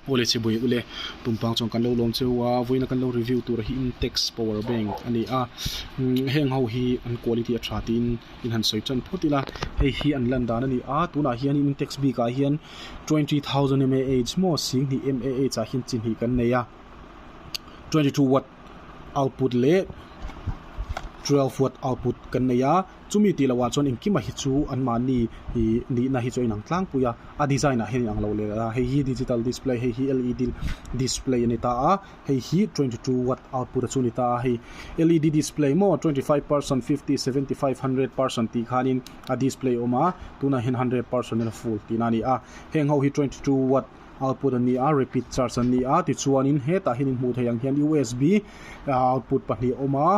Aw le chhibawih u le. Pumpang chuan kan lo lawm cheu a, vawiina kan lo review tur hi Intex power bank a ni a, heng ho hi an quality a tha tiin in han sawi chan phawt ila, hei hi an lan dan a ni a, tunah hian in Intex bik ah hian twenty thousand mAh maw sing hnih mAh ah hian chi hnih kan nei a, twenty two watt output leh twelve watt output kan nei a. Chumi tih loh ah chuan engkima hi chu an mahni ih nihna hi chu a inang tlangpui a, a design ah hian a inang lo leh a, hei hi digital display hei hi led display a ni ta a, hei hi twenty two watt output a chu a ni ta a, hei led display maw twenty five percent, fifty, seventy five, hundred percent tih khan in a display a awm a, tunah hian hundred percent in a full tihna a ni a, heng ho hi twenty two watt. output a ni a repeat charge a ni a tichuanin hetah hianin hmuh theih ang hian usb ah output pahnih a awm a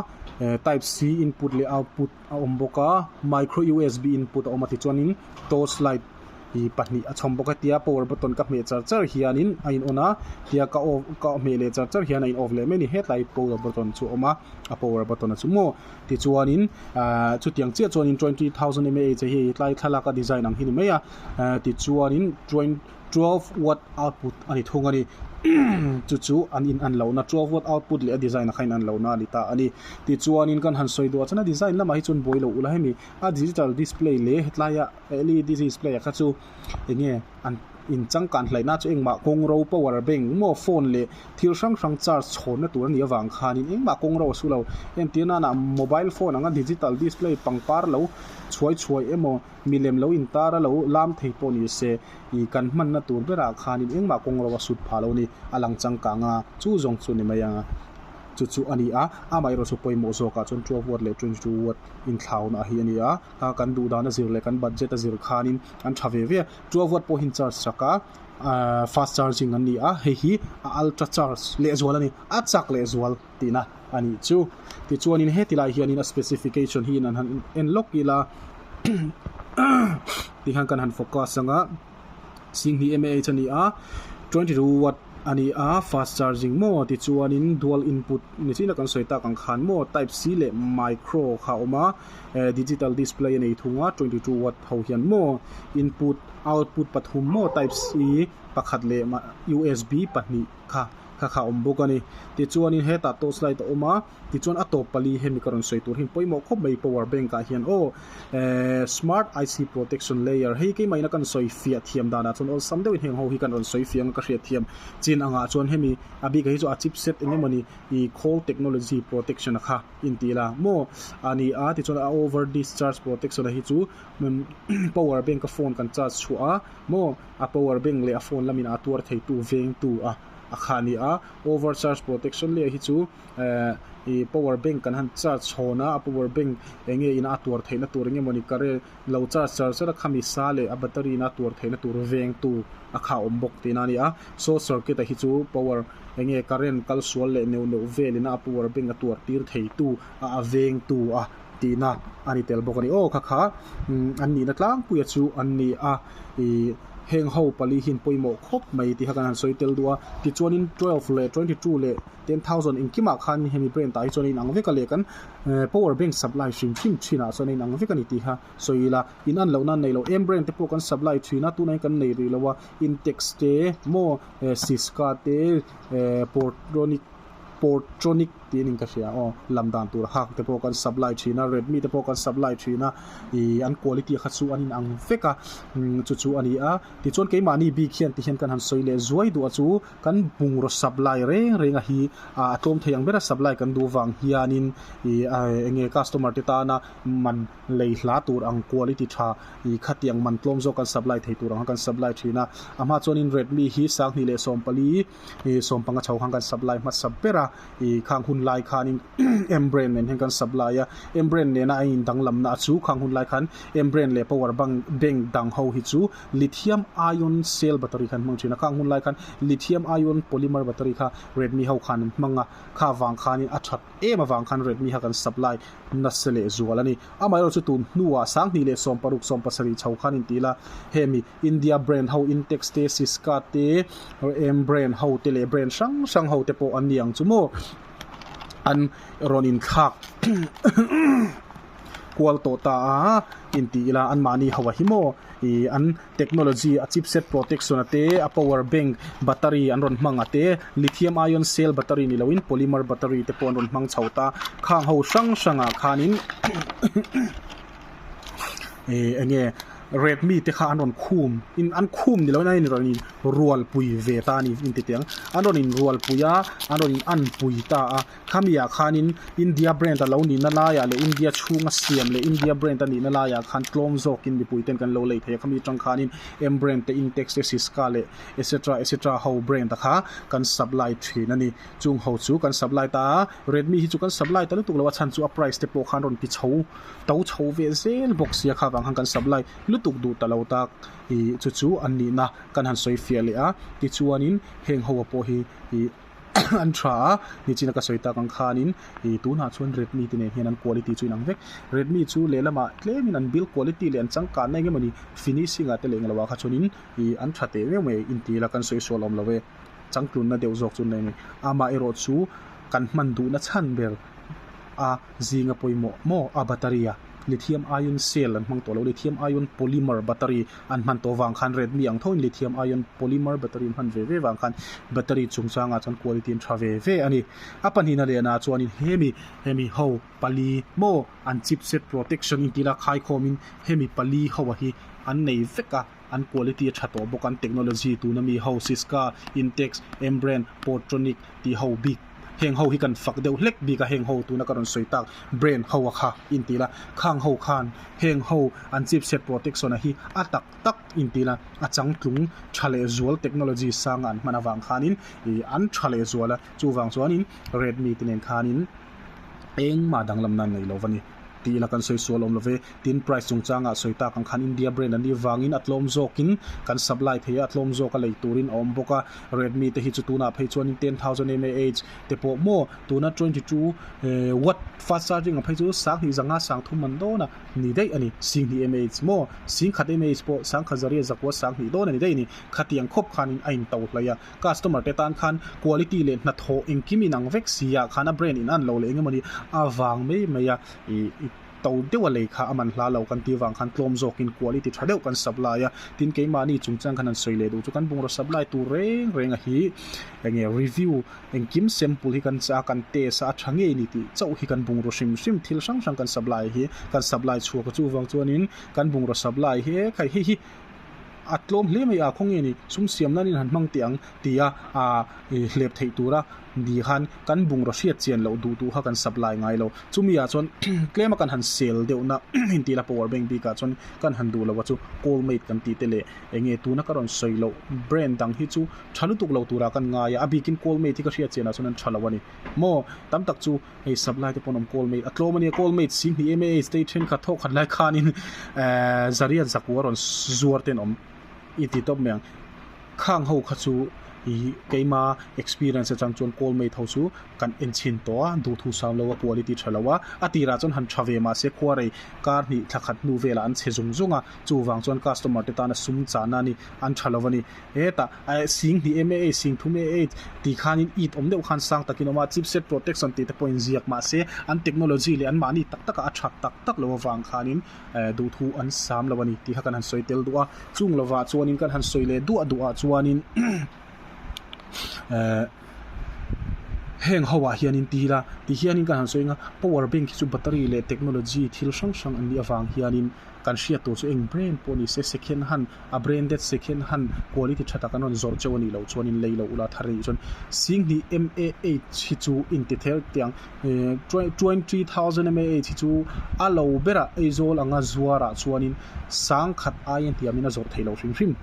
eh type c input leh output a awm bawk a micro usb input a awm a tichuanin torch light ih pahnih a chhawm bawk a tia power button ka hmeh char char hianin a in on a tia ka off ka hmeh leh char char hian a in off leh mai a ni hetlai power button chu a awm a a power button a chu maw tichuanin ah chutiang chiah chuan twenty thousand mah a hi tlai thlalaka design ang hi a ni mai a eh tichuanin twen-- twelve watt output a ni thung a ni, chu chu an in an lohna twelve watt output leh a design a kha in an lohna a ni ta a ni. Tichuanin kan han sawi duh a chan a design lamah hi chuan buailo ula hemi a digital display leh hetlaia led display a kha chu eng nge an in changkan hlaihna chu engmah kawng ro power bank maw phone leh thil hrang hrang charge chhawnna tur a nih avang khanin engmah kawng ro a su lo. Entir nana mobile phone anga digital display pangpar lo chhuai chhuai emaw. Milem lo intar a lo lam thei pawh ni se, ih kan hmanna tur berah khanin engmah kawng ro a sut pha lo ni, a lang changkang a, chu zawng chu ni mai anga chu chu a ni a, amaherawh chu pawimawh zawkah chuan two vuat leh twenty two vuat inthlauna hi a ni a, a kan duhdana zir leh kan budget a zir khanin an tha ve ve a, two vuat pawh hi an charge chak a, fast charging an ni a, hei hi a ultra charge leh zual a ni, a chak leh zual. tihna a nih chu. Tichuanin hetilai hianin a specification hi an han en lawk ila tih hian kan han focus ang a, Singhi mah a ni a, twenty two watt a ni a, fast charging maw tichuanin dual input ni thlin a kan sawi tak ang khan maw, type C leh micro kha a awm a, eh digital display a nei thung a, twenty two watt ho hian maw, input, output pathum maw, type C pakhat leh usb pahnih kha. kha kha awm bawk a ni. Tichuanin hetah torchlight a awm a, tichuan a tawp pali hemi ka rawn sawi tur hi an pawimawh khawp mai power bank ah hian aw eehh smart IC protection layer hei keimahina kan sawi fiah thiam danah chuan awlsam deuhin heng ho hi kan rawn sawi fiah anga ka hriat thiam chin angah chuan hemi a bik ah hi chu a chipset eng emawni ih khawl technology protection a kha intih la maw a ni a tichuan a over discharge protection a hi chu power bank a phone kan charge chhuah a maw. a power bank leh a phone lam in a tuar thei tu veng tu a a kha ni a over charge protection leh hi chu ehh ih power bank kan han charge chhawn a a power bank eng nge in a tuar theih na tur eng nge mawni current lo charge char char a khami sa leh a battery in a tuar theih na tur veng tu a kha awm bawk tihna a ni a short circuit ah hi chu power eng nge current kal sual leh neuh neuh vel in a a power bank a tuar tir thei tu a a veng tu a Tihna a ni tel bawk a ni. Aw, kha kha, an nihna tlangpuia chu an ni a, ih, heng ho pali hi'n pawimawh khawp mai tih kha kan han sawi tel duh a, tichuanin twelve leh twenty two leh ten thousand inkimah khan hemi brand-ah hi chuan a inang vek a leh kan power bank supply hrim hrim thinah chuan a inang vek a ni tih kha sawi ila, in an lohna a nei lo, em brand te pawh kan supply thin a, tuna hi kan nei rih lo a, Intex te, maw, Cisca te, eh, Portronic Portronic tiin inka hria aw, lam dan tur hak te pawh kan supply thin a, Redmi te pawh kan supply thin a, ih an quality kha chu an in ang vek a, umm chu chu a ni a, tichuan keimahni bik hian tihian kan han sawi leh zuai duh a chu kan bungraw supply reng reng a hi a tlawm thei ang ber a supply kan duh vang hianin ih a eng nge customer te tana man lei hla tur ang quality tha ih khatiang man tlawm zawk kan supply thei tur ang kha kan supply thin a, a hma chuan in Redmi hi sang hnih leh sawm pali ih sawm panga chho khan kan sap lai hmasa ber a, ih khang hun lai khanin em brain nen hian kan sap lai a, em brain nena a in dang lam na a chu khang hun lai khan em brain leh power bang bank dang ho hi chu lithium ion cell battery khan hmang thin a, khang hun lai khan lithium ion polymer battery kha redmi ho khan an hmang a, kha vang khanin a that em avang khan redmi kha kan sap lai nasa leh zual a ni, amaherawhchu tun hnuah sang hnih leh sawm paruk sawm pasarih chho khan in ti ila hemi India brand ho Intex te, Sisca te, Rem brand ho te leh brand hrang hrang ho te pawh an ni ang chu maw an rawn inthlak kual tawh ta a inti ila an mahni ho a hi maw ih an technology a chip set protection a te a power bank battery an rawn hmang a te lithium ion cell battery ni loin polymer battery te pawh an rawn hmang chho ta khang ho hrang hrangah khanin Eii enge red mi te kha an rawn khum in an khum ni lo na in rawn in rual pui ve ta a ni in ti tiang an rawn in rual pui a an rawn in an pui ta a khami ah khan in india brand a lo ni na lai ah leh india chhung a siam leh india brand a ni na lai ah khan tlawm zawk in mipui ten kan lo lei thei a khami tang khan in m brand te intex te siska leh etc etc ho brand a kha kan supply thin a ni chung ho chu kan supply ta a red mi hi chu kan supply ta lutuk lo a chhan chu a price te pawh khan rawn ti chho To chho ve zel bawk sia kha vang han kan sap lai lutuk duh ta lo tak i chu chu an nihna kan han sawi fiah leh a, tichuanin heng ho a pawh hi i an tha a, nichina ka sawi tak ang khanin i tunah chuan Redmi te nen hian an quality chu inang vek, Redmi chu lehlamah tlemin an build quality leh an changkanna eng emawni finishing ah te leh engloah kha chuanin i an tha teh meuh mai inti ila kan sawi sual awm lo e, changtlunna deuh zawk chu an nei a ni, amaherawhchu kan hman duhna chhan ber. a zing a pawimawh maw a battery a lithium ion cell an hmang tawh lo lithium ion polymer battery an hman tawh vang khan red mi ang thawhin lithium ion polymer battery an hman ve ve vang khan battery chung changah chuan quality an tha ve ve a ni a pahnihna leh na chuanin hemi hemi ho pali maw an chipset protection intih la khai khawmin hemi pali ho a hi an nei vek a. an quality a tha tawh bawk an technology tuna mi ho Cisca, Intex, Embrain, Portronic tih ho bik heng ho hi kan fak deuh hlek bik a heng ho tuna ka rawn sawi tak brand ho a kha inti ila khang ho khan heng ho an chipset protection a hi a tak tak inti ila a changtlung tha leh zual technology sang a an hman avang khan in ih an tha leh zual a chuvang chuan in Redmi te nen khan in engmah danglam nan nei lo va ni. Tih ila kan sawi sual awm love. Tin, price chungchangah sawi tak ang khan India brand an nih vangin a tlawm zawkin kan supply thei a, a tlawm zawk a lei turin a awm bawk a. Redmi te hi chu tunah phei chuan in ten thousand mAh te pawh maw, tuna twenty two watt fast charging ang phei chu sang hnih zanga sang thum man dawn a ni daih a ni. Sing hnih mAh maw, sing khat mAh pawh sang khat zariah zakua sang hnih dawn a ni daih a ni. Khatiang khawp khanin a in to hlawih a. Customer te tan khan quality leh hnathawh engkim inang vek si ah khan a brand in an lo leh eng emawni a vang mai mai a ih to deuh a lei kha a man hla lo kan tih vang khan tlawm zawk in quality tha deuh kan sap lai a tin keimah ni chung chuan khan han sawi leh duh chu kan bungraw sap lai tur reng reng a hi eng nge review engkim sample hi kan chah a kan test a a tha ngei ni tih chauh hi kan bungraw hrim hrim thil hrang hrang kan sap lai hi kan sap lai chhuak a chuvang chuan in kan bungraw sap lai hi e khai hei hi a tlawm hle mai a, khawnge nih sum siam nan in han hmang teh ang tia aa hlep theih tur a ni khan kan bungraw hriat chian loh duh duh kha kan sap lai ngai lo. Chumi ah chuan tlem a kan han sel deuh na in tih la power bank bik ah chuan kan han duh lo a chu call mate kan tih te leh eng nge tuna ka rawn sawi loh brand dang hi chu tha lutuk lo tur ah kan ngai a, a bik in call mate hi ka hriat chian ah chuan an tha lo a ni maw tam tak chu Hei sub lai te pawh an awm call mate a tlawm ania call mate si hnih em age te thenkhat thawh khat lai khanin ehh zariat zakua a rawn zuar ten awm i ti tawp mai ang khang ho kha chu ihh keima experience atang chuan call mate ho chu kan en chhin tawh a duhthû sâm lo a quality tha lo a a tirah chuan han tha ve mah se khuarei kar hnih thlakhat hnu velah an chhe zung zung a chuvang chuan customer te tana sum chahna a ni an tha lo a ni. Heta eh sing hnih em e ei, sing thum e ei tih khanin it awm deuh khan sang takin awm a, chipset protection tih te pawhin ziak mah se an technology leh an mahni tak taka a chhak tak tak lo avang khanin eh duhthu an sam lo a ni tih kha kan han sawi tel duah a, chung lovah chuanin kan han sawi leh duah duah a chuanin eh heng hoah hian in ti ila ti hianin kan han sawi anga power bank hi chu battery leh technology thil hrang hrang an nih avang hianin. kan hriat tur chu eng brand pawh ni se second hand a branded second hand quality tha tak an rawn zawrh chauh a nih loh chuan in lei loh ula thar a nih chuan sing hnih mah hi chu intithel teh ang ehh twenty thousand mah hi chu a lo berah aizawl anga zuarah chuan in sang khat aia hniam in a zawrh theih loh hrim hrim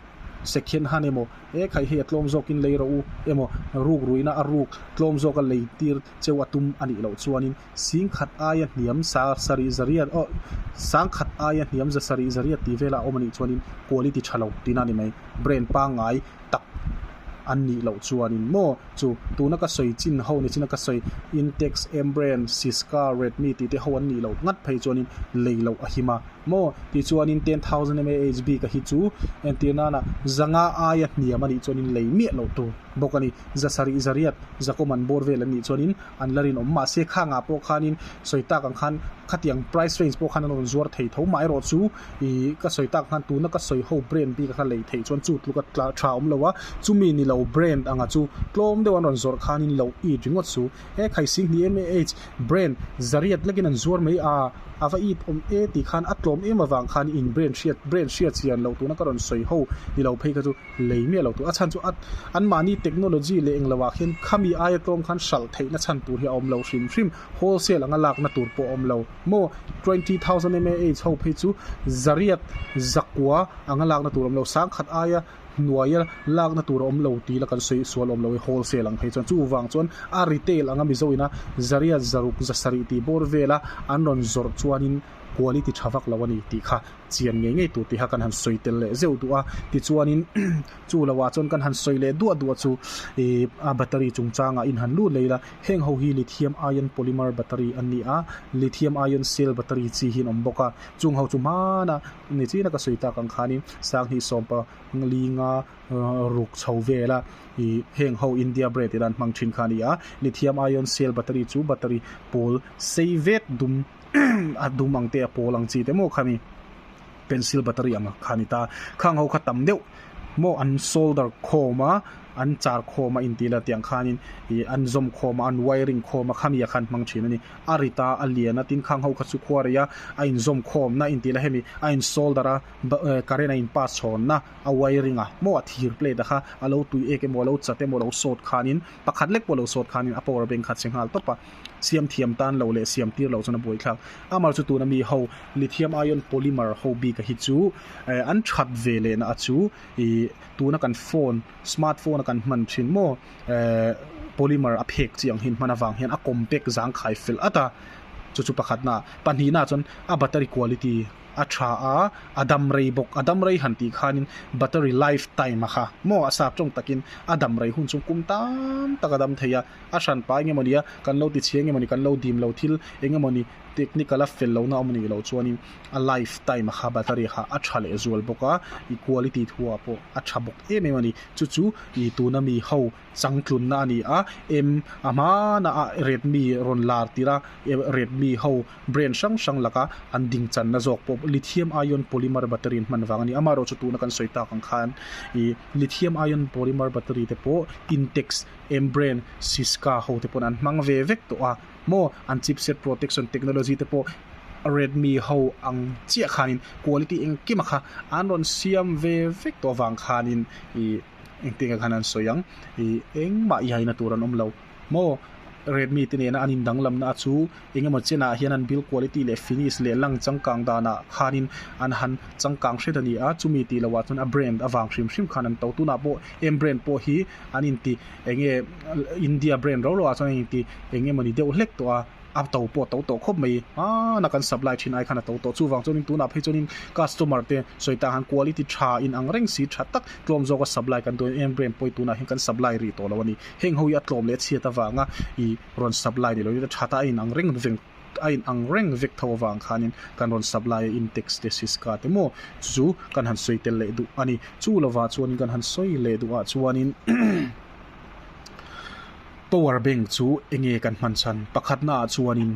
second hand emaw he khai hei a tlawm zawk in lei rawh u emaw ruk ruihna a ruk tlawm zawk a lei tir cheu a tum a nih loh chuan in. Singkhat aia hniam sa sarih zariat oh Sangkhat aia hniam za sarih zariat tih vel a awm a nih chuan in quality tha lo tina ni mai brand pangngai tak an nih loh chuan in maw chu tuna ka sawi chin ho ni china ka sawi intex M brand Sisca Redmi tih te ho an nih loh ngat phei chuan in lei loh a him a maw tih chuan in ten thousand mAh bik a hi chu entir nan a zanga aia hniam a nih chuan in lei miah loh tur bawk a ni za sarih zariat za common bawr vel an nih chuan in an la rinawm mahse khangah pawh khanin sawi tak ang khan khatiang price range pawh khan an rawn zuar thei tho mah erawh chu ih ka sawi tak ang khan tuna ka sawi ho brand bik a kha lei theih chuan chu tluka tla tha awm lo a chumi ni lo brand anga chu tlawm deuh an rawn zawrh khanin lo it ringawt su e khai sing hnih em e age brand zariat lakin an zuar mai a a va it awm e tih khan a tlawm em avang khan in brand hriat brand hriat chian loh tuna ka rawn sawi ho ni lo phei kha chu. lei miah lo tur a chhan chu a an mahni technology leh eng lo ah khian khami aia tlawm khan hralh theih na chhan tur hi a awm lo hrim hrim wholesale anga lak na tur pawh a awm lo maw twenty thousand mah ho phei chu zariat zakua anga lak na tur awm lo sang khat aia hnuaia lak na tur a awm lo tih la kan sawi sual awm lo e wholesale ang phei chuan chu vang chuan a retail anga mizo ina zariat zaruk zasarih tih bawr vela an rawn zawrh chuan in quality tha vak lo a ni tih kha chian ngei ngei tur tihah kan han sawi tel leh zeuh duh a tichuanin chu lo ah chuan kan han sawi leh duah duah chu ihh a battery chungchang ah in han lut leh ila heng ho hi lithium ion polymer battery an ni a lithium ion cell battery chi hi an awm bawk a chung ho chu hmana ni chiana ka sawi tak ang khanin sanghni sawm pali nga ruk chho vela ihh heng ho india brand ila an hmang thin kha a ni a lithium ion cell battery chu battery pawl sei vet dum-- a dum ang te a pawl ang chi te maw kha ni pencil battery ang kha ni ta khang ho kha tam deuh maw an solder khawm a an char khawm a intih la tiang khanin ih an zawm khawm a an wiring khawm a kha nia khan hmang thin a ni a rit a a lian a tin khang ho kha chu khua rei a a in zawm khawm na intih la hemi a in solder a current a in pass chhawn na a wiring a maw a thir plate a kha a lo tui ek emaw a lo chat emaw a lo sawt khanin pakhat lek pawh a lo sawt khanin a power bank kha che nghal tawp a siam thiam tan lo leh siam tir lo chuan a buai thlak. Amar chu tuna mi ho lithium ion polymer ho bik a hi chu eh an that ve leh na a chu ih tuna kan phone smart phone a kan hman thin maw eh polymer a phek chi ang hian hman a vang hian a compact zangkhai fel at a chu chu pakhat na pahnih na chuan a battery quality a tha a a dam rei bawk a dam rei han tih khan in battery life time a kha maw a sap tawng tak in a dam rei hun chu kum tan tak a dam thei a. a hran pa enge mawni a kan lo tichhia enge mawni kan lo dim lo thil enge mawni technical a fel lohna awm nih loh chuan in a life time a kha battery kha a tha leh zual bawk a i quality thua pawh a tha bawk em em ani chu chu i tuna mi ho changtlun na ani a em a hman a redmi rawn lar tir a redmi ho brand hrang hrang lak a an ding chan na zawk pawh lithium ion polymer battery an hman vang ani amah erawh chu tuna kan sawi tak ang khan i lithium ion polymer battery te pawh intex Embraer, Siska ho te pawn an hmang ve vek tawh a, maw an chipset protection technology te pawh Redmi ho ang chiah khanin quality engkima kha an rawn siam ve vek tawh avang khanin ih engtin nge khan an sawi ang ih engmah yaina tur an awm lo maw Redmi te nena an indanglamna a chu Engemaw chianah hian an build quality leh finish leh lang changkang danah khanin an han changkang hret a ni a, chumi tih lohah chuan a brand avang hrim hrim khan an to. Tunah pawh em brand pawh hi an inti enge India brand ro roah chuan an inti engemawni deuh hlek tawh a, a to pawh a to tawh khawp mai. Hmana kan supply thin ai khan a to tawh. Chuvang chuanin tunah phei chuanin customer te sawi ta han quality tha in ang reng si tha tak tlawm zawka supply kan duai em brand pawh hi tunah hian kan supply rih tawh lo a ni. Heng ho hi a tlawm leh a chhiat avanga i rawn sap lai nilo chuan that a in ang reng vek a in ang reng vek tho avang khanin kan rawn sap lai a index te siska te maw chu chu kan han sawi tel leh duh a ni chu lovah chuanin kan han sawi leh duh ah chuanin power bank chu eng nge kan hman chhan pakhatna ah chuanin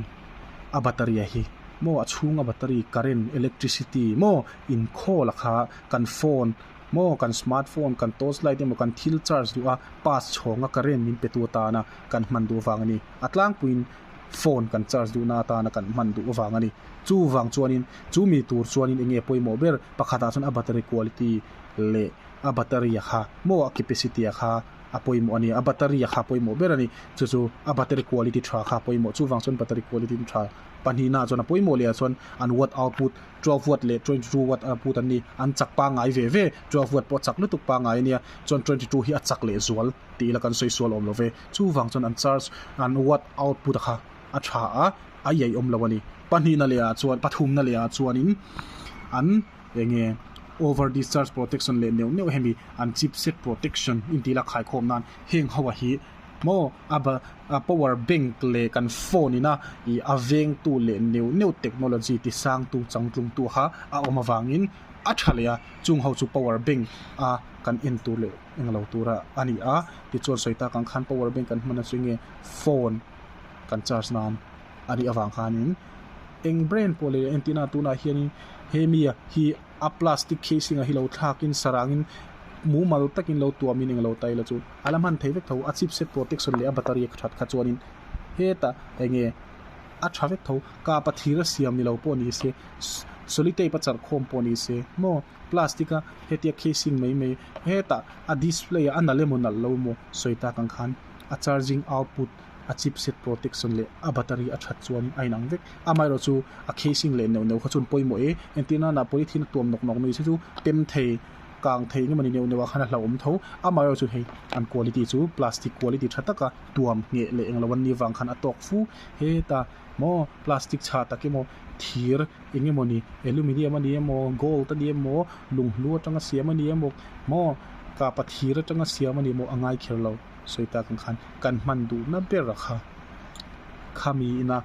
a battery a hi maw a chhunga battery current electricity maw inkhawl a kha kan phone Maw kan smartphone, kan torch light emaw kan thil charge duh a pass chhawngah current min pe tu atana kan hman duh avang a ni. A tlangpuiin phone kan charge duhna atana kan hman duh avang a ni. Chuvang chuanin chumi tur chuanin enge pawimawh ber pakhatah chuan a battery quality leh a battery a kha maw a capacity a kha a pawimawh a ni. A battery a kha pawimawh ber a ni. Chu chu a battery quality tha kha pawimawh chuvang chuan battery quality tha pahnihna ah chuan a pawimawh leh ah chuan an watt output, Twelve-watt leh Twenty-two watt a put an ni. An chak pangai ve ve. Twelve-watt pawh a chak lutuk pangai a nia. Chuan Twenty-two hi a chak leh zual tih ila kan sawi sual awm lo ve. Chuvang chuan an charge an watt output-a kha a tha a, a iai awm lo a ni. Pahnihna lehah chuan, pathumna lehah chuanin an eng nge Over-discharge protection leh neuh neuh hemi an chipset protection intih ila khaikhawm nan heng ho a hi maw a ba, power bank leh kan phone ina ih a veng tu leh neuh neuh technology ti sang tu chang tlung tu kha a awm avangin a tha leh a chung ho chu power bank a kan en tur leh eng lo tura a ni a tichuan sawi tak ang khan power bank kan hman atang chu eng nge phone kan charge nan a nih avang khanin eng brand pawh leh entir na tunah hianin he mi hi-- a plastic casing a hi lo thlakin sarangin mumal takin lo tuamin eng lo ta ila chu a la hman thei vek tho a chipset protection leh a battery ka that kha chuanin hetah eng nge a tha vek tho kapa thir a siam ni lo pawh ni se solitape a charhkhawm pawh ni se maw plastic a hetia casing mai mai hetah a display a a nal emaw nalh lo maw sawi tak ang khan a charging output -- a chip set protection leh a battery a that chuanin a inang vek, amaherawh chu a casing leh neuh neuh kha chuan pawimawh e, engtir nana polythene a tuam nawk nawk ni se chu tem thei, kang thei eng emawni neuh neuh ah khan a hlauhawm tho, amaherawh chu hei an quality chu plastic quality tha taka tuam ngheh leh englo an nih avang khan a tawk fu heta maw plastic chhah tak emaw thir eng emawni aluminium a nih emaw gold a nih emaw lunghlu atanga siam a nih emaw maw kapa thir atanga siam a nih emaw a ngai kher lo. sawi tak ang khan kan hman duhna ber a kha khami ina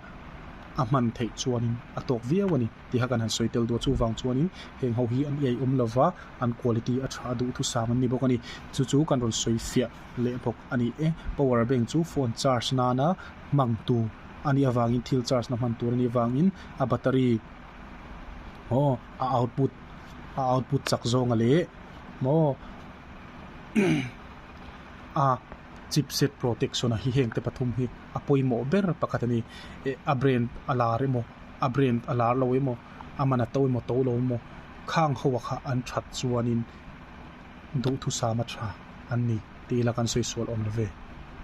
a hman theih chuanin a tawk viau a ni tih kha kan han sawi tel duh chuvang chuanin heng ho hi an eiawm lova an quality a tha duh thu sam an ni bawk a ni chu chu kan rawn sawi fiah leh bawk a ni e power bank chu phone charge nana hmang tur a nih avangin thil charge na hman tur a nih avangin a battery maw a output a output chak zawnga leh maw a chipset protection a hi heng te pathum hi a pawimawh ber pakhat a ni eh a brand a lar emaw a brand a lar lo emaw a man a to emaw to lo emaw khang ho a kha an that chuanin duhthusam a tha an ni tih ila kan sawi sual awm lo ve.